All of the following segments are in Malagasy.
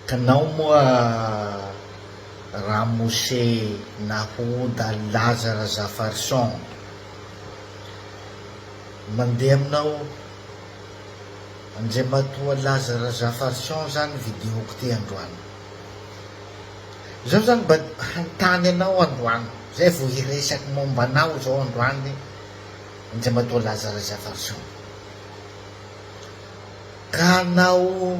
Tanao moa ramose nahoda laza razafarison mandeha aminao andriamatoa laza razafarison zany video ko ty androany zao zany mba hanontany anao androany zay vo hiresaky momba anao zao androany andriamatoa laza razafarison ka anao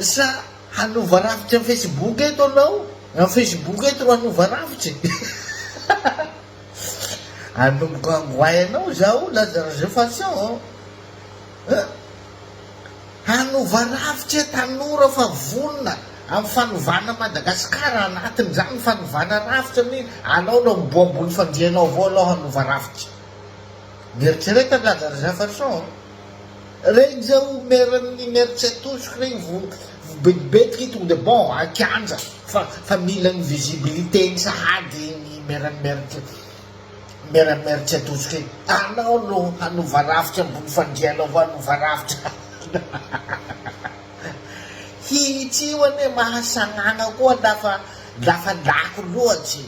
Sa hanova rafitry am facebook eto anao? Am facebook eto ro hanova rafitry e! Hanomboka angoay anao zaho laza resefaction an! Hanova rafitry e tanora fa vonona am fanovana Madagascar anatiny zany ny fanovana rafitra mi alao aloha miboha ambony fandrianao avao aloha hanova rafitry. Mieritrereta ny laza Reza Farson a! Reza o mer ny mer tsy atosiko regny vo vobetibetika i tonga de bon a kianja fa fa mila ny visibilité ny sahady ny mer ny mer tsy mer ny mer tsy atosiko igny anao no hanova rafitra ambony fandrianao vo hanova rafitra hihitsio anie mahasagnagna koa lafa lafa lako loatry.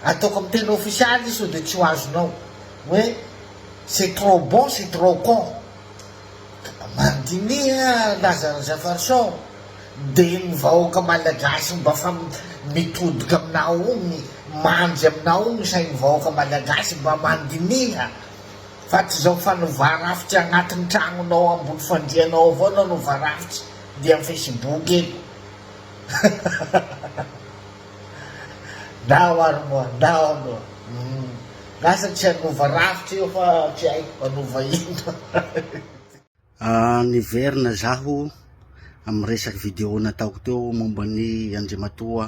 Ataoko amin'ny teny ofisialy izy sao dia tsy ho azonao. Hoe c'est trop bon, c'est trop con. Mandiniha Lazare Zafarisson, dia ny vahoaka malagasy mba fa mitodika aminao ogny, mandry aminao ogny sain'ny vahoaka malagasy mba mandiniha fa tsy izao fanova rafitra agnatin'ny tragnonao ambony fandrianao avao nanova rafitra dia amin'ny facebook eto. Ndao ary moa, ndao aloha. Lasa tsy hanova rafitra io fa tsy haiko hanova inona. Niverina zaho amin'ny resaky video nataoko teo momba ny Andriamatoa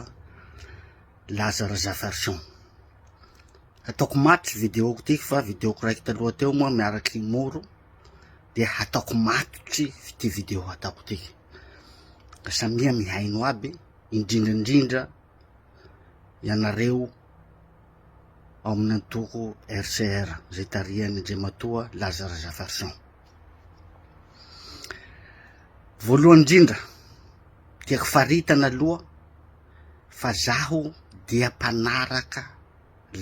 Lazare Zaferson. Hataoko maty videoko ity fa videoko raiky taloha teo moa miaraky Moro dia hataoko maty ity video hataoko ity. ka samia mihaino aby indrindra indrindra ianareo ao amin'ny antoko RCR izay tarihan'ny Andriamatoa Laza Razafarison. Voalohany indrindra, tiako faritana aloha fa zaho dia mpanaraka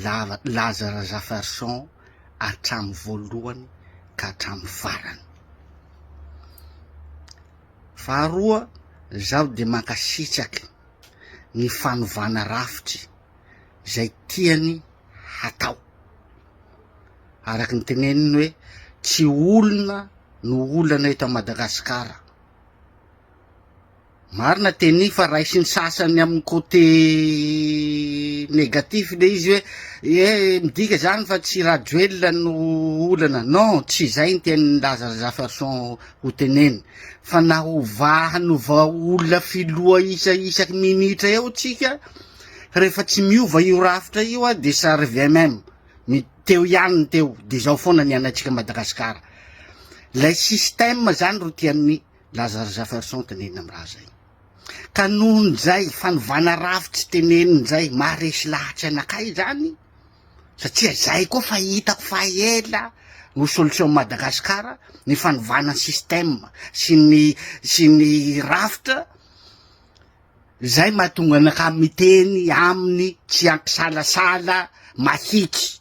lava laza Razafarison hatramin'ny voalohany ka hatramin'ny farany. Faharoa, zaho dia mankasitraky ny fanovana rafitry izay tiany hatao. Araky ny teneniny hoe tsy olona no olana eto Madagasikara. Marina Teny fa raisin'ny sasany amin'ny côté négatif le izy hoe eh midika zany fa tsy Rajoelina no olana, non tsy izay ny tian'i Lazare Zafarson ho tenenina fa na hovà hanova olona filoha isa isaky minitra eo tsika rehefa tsy miova io rafitra io a de ça revient même ny teo ihany ny teo de zao foana ny anatsika Madagasikara lay système zany ro tian'ny Lazare Jafferson tenenina am raha zay. Ka nohon zay fanovana rafitry tenenin zay maha resy lahatry anakay zany satria zay koa fa hitako fa ela no solution am Madagascar ny fanovana ny système sy ny sy ny rafitra zay mahatonga anakay miteny aminy tsy ampisalasala mahiky.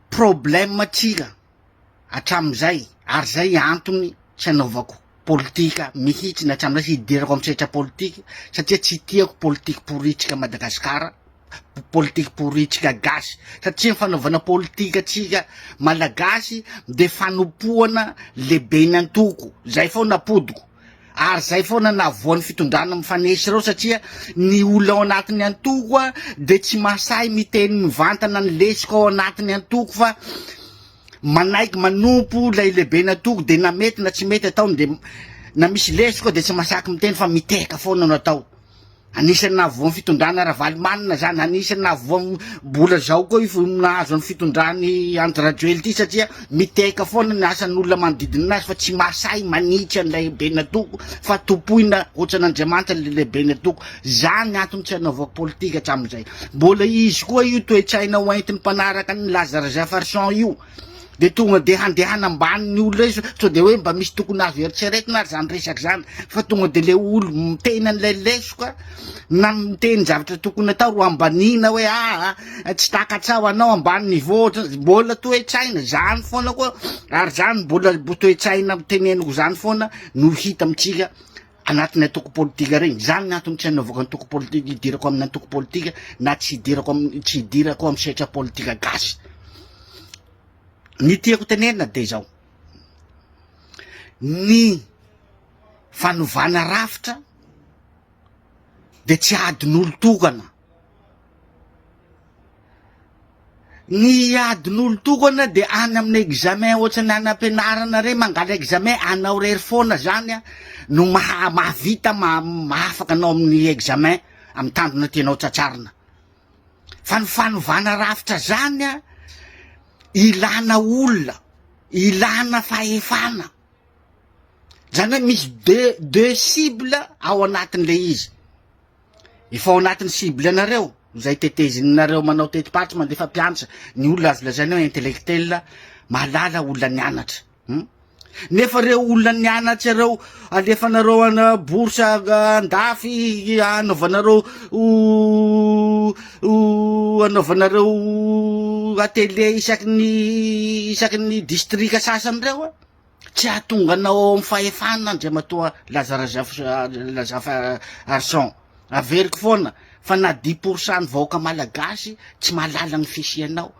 problème tsika hatramin'izay ary izay antony tsy anaovako politika mihitsy na hatramin'izay tsy hidirako amin'ny sehatra politika satria tsy tiako politika poritsika Madagasikara, politika poritsika gasy satria ny fanaovana politika tsika malagasy dia fanompoana lehiben'ny antoko, izay foana apodiko. ary zay foana navoan'ny fitondrana mifanesy ireo satria ny olona ao anatin'ny antoko a de tsy masahy miteny mivantana ny lesiko ao anatin'ny antoko fa manaiky manompo ilay lehibe ny antoko de na mety na tsy mety ataony de na misy lesiko de tsy masaky miteny fa mitehaka foana no atao Anisan'ny nahavoan'ny fitondrana Ravalomanana izany, anisan'ny nahavoan'ny mbola izao koa io nahazo ny fitondran'i Andry Rajoely ity satria miteka foana ny asan'olona manodidina azy fa tsy mahasahy manitsy an'ilay lehiben'ny antoko fa tompoina ohatran'Andriamanitra ilay lehiben'ny antoko. Izany ny antony tsy hanaovako politika hatramin'izay. Mbola izy koa io toe-tsaina hoentin'ny mpanaraka an'i Lazare Jefferson io. de tonga de handehana ambaniny olona izy sao de hoe mba misy tokony azo eritreretina ary zany resaka zany fa tonga de le olo miteny an'ilay lesoka na miteny zavatra tokony atao ro ambanina hoe aa ah, tsy takatsaho anao ambany niveau mbola toe-tsaina zany foana koa ary zany mbola toe-tsaina teneniko zany foana no hita amintsika anatin'ny antoko politika regny, zany ny antony tsy anaovako antoko politika, hidirako amin'ny antoko politika na tsy hidirako amin'ny tsy hidirako amin'ny sehatra politika gasy, ny tiako tenenina de zao, ny fanovana rafitra de tsy adin'olo tokana. Ny adin'olon-tokana dia any amina examen ohatrany any am-pianarana re mangala examen anao rery foana zany an no maha mahavita mahafaka anao amin'ny examen amin'ny tanjona tianao tratrarina fa ny fanovana rafitra zany an ilana olona ilana fahefana zany hoe misy deux deux cibles ao anatin'ilay izy Efa ao anatin'ny cible anareo izay tetezininareo manao teti-paritra mandefa mpianatra ny olona azo lazaina hoe intellectuel mahalala olona nianatra. Hmm? nefa reo olona nianatra reo alefanareo ana bourse andafy anaovanareo anaovanareo atelier isaky ny isaky ny distrika sasany reo a Tsy hahatonga anao ao amin'ny fahefana Andriamatoa Lazafy-Arson. Averiko foana fa na dix pour cent ny vahoaka malagasy tsy mahalala ny fisianao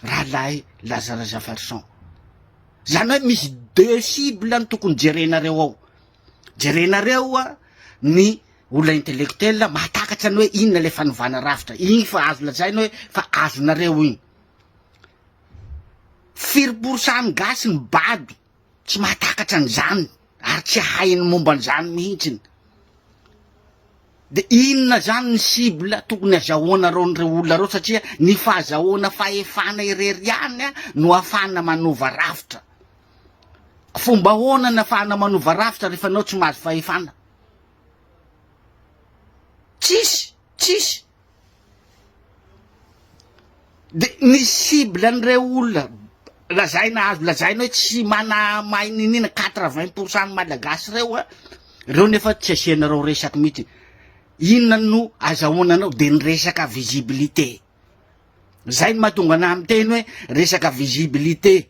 Rahalahy Lazafy-Arson. Zany hoe misy deux cibles no tokony jerenareo ao. Jerenareo ny olona intellectuel mahatakatra ny hoe inona ilay fanovana rafitra. Iny fa azo lazaina hoe fa azonareo iny. Firy porsan'ny gasy ny bado tsy mahatakatra an'izany ary tsy hahay ny momba an'izany mihitsy. Dia inona izany ny cible tokony hazahoanareo an'ireo olona ireo satria ny fahazahoana fahefana irery ihany no ahafahana manova rafitra. Fomba ahoana ny ahafahana manova rafitra rehefa anao tsy mahazo fahefana? Tsisy, tsisy. De ny cible an'ireo olona lazaina azo lazaina hoe tsy mana mahay niniana quatre vingt pour cent ny malagasy ireo a, ireo nefa tsy asianareo resaka mihitsy, inona no azahoana anao de ny resaka visibilité, zay no mahatonga anah miteny hoe resaka visibilité.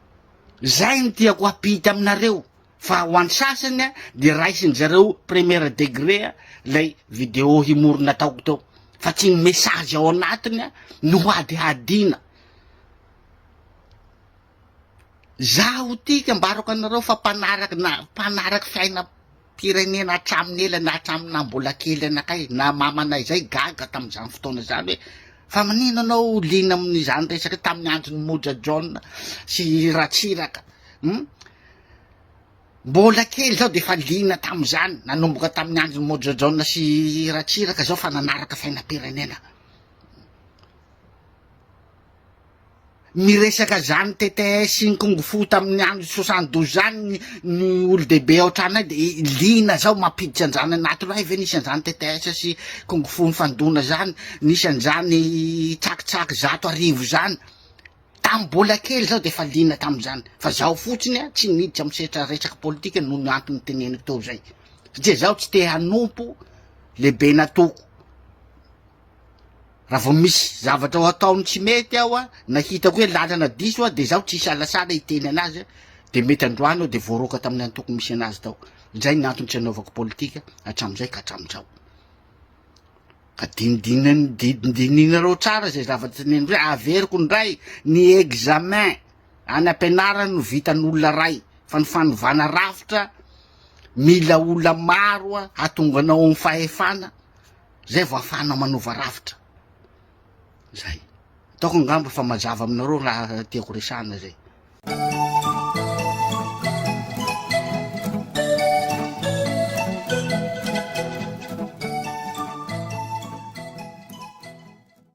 Zay no tiako ampita aminareo fa ho an sasany a de raisin zareo première degré a lay vidéo himory nataoko teo fa tsy ny message ao anatiny a no hadihadiana zaho ty ka ambarako anareo fa mpanaraky na mpanaraky fiaina firenena hatramin'ny ela na hatramin'ny naha mbola kely anakay na mamanay izay gaga tamin'izany fotoana izany hoe fa manina anao liana amin'izany resaka tamin'ny andron'ny moja jaona sy ratsiraka hmm? mbola kely zao de efa liana tamin'izany nanomboka tamin'ny andron'ny moja jaona sy ratsiraka zao fa nanaraka fiainam-pirenena Niresaka izany tts sy ny kung fu tamin'ny andron'ny soixante douze zany ny olo-dehibe ao an-tranonay de liana zao mampiditra an'izany anaty loha, hay ve nisy an'izany tts sy kung fu nifandona zany, nisy an'izany tsakitsaky zato arivo zany? Tamin'ny mbola kely zaho de efa liana tamin'izany fa zaho fotsiny a tsy niditra amin'ny sehatra resaka politika noho ny antony teneniko teo zay satria zaho tsy te hanompo lehibe natoako. Raha vao misy zavatra ho ataony tsy mety aho a, na hitako hoe lalana diso a, dia izaho tsy hisalasala hiteny anazy a, dia mety androany aho dia voaroaka tamin'ny antoko misy anazy tao. Izay ny antony tsy anaovako politika hatramin'izay ka hatramin'izao. Ka dinidinan- di- dininareo tsara izay zavatra teneniko izay, averiko indray ny examen any am-pianarana no vitan'olona iray, fa ny fanovana rafitra mila olona maro a, hahatonga anao amin'ny fahefana, zay vao afahana manova rafitra zay ataoko angamba fa mazava aminareo raha tiako resahana zay